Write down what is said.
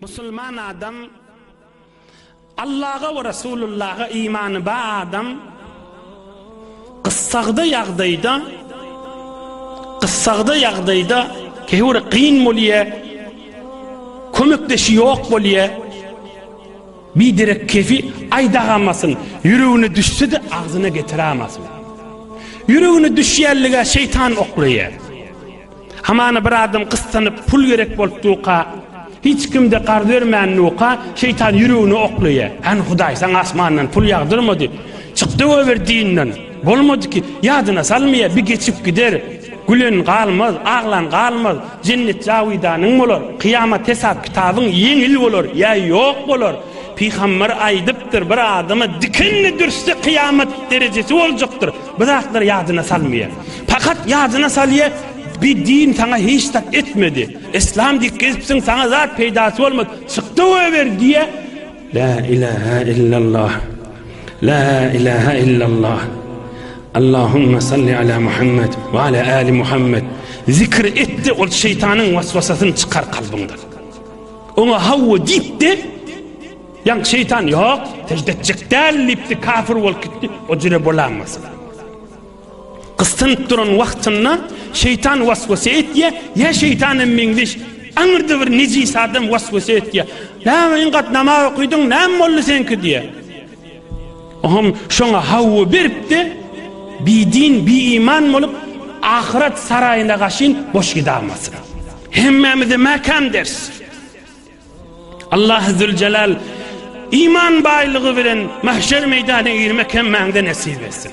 Musulman adam, Allaha we Resulullaha imany bar adam gyssagda ýagdaýda, gyssagda ýagdaýda käwir kyn bolýar, kömekdeşi ýok bolýar. Biderek kefi aýdagamasyn, ýüregine düşse-de agzyna getirämasyn. Ýüregine düşýänlige şeýtan oklaýar. Hamana bir adam gyssanyp pul gerek bolup durka, hiç kimde garz bermän durka, şeýtan ýüregine oklaýar. Hany Hudaý saňa asmandan pul ýagdyrmady. Çykdy goýber dinden. Bolmady ki, ýadyna salmaýar, bi geçip gider. Gülen galmaz, aglan galmaz. Jennet jawydanyň bolar. Kyýamat hesap kitabyň ýeňil bolar, ýa ýok bolar. Pygamber aýdypdyr, bir adama dikenli dürsde kyýamat derejesi boljakdyr. Bu zatlar ýadyna salmaýar. Pakat ýadyna salýar, bi din saňa hiç zat etmedi. Islam diýip gezipsiň, saňa zat peýdasy bolmady. Çykda goýber diýýär. La ilaha illallah. La ilaha illallah. Allahumma salli ala Muhammed ve ala ali Muhammed. Zikr et de ol şeytanın vasvasasını çıkar kalbından. Ona havva deyip de Ýaňky şeýtan ýok, sežde etjek däl diýipdi, kafir bolup gitdi. O jüre bolan bolsa. Gysynyp duran wagtynda şeýtan waswasa etýä, ýa şeýtan hem meňzeş aňyrda bir nejis adam waswasa etýä. Näme iň gat namaz okydyň, näme boldy seňki diýä. Oňam şoňa hawa beripdi. Bi din, bi iman bolup ahyret saraýyna gaşyn boş gidamazsyň. Hemmämize mäkäm ders. Allah Zülcelal iman baýlygy bilen mahşer meýdana girmek hemmäňde nesip etsin.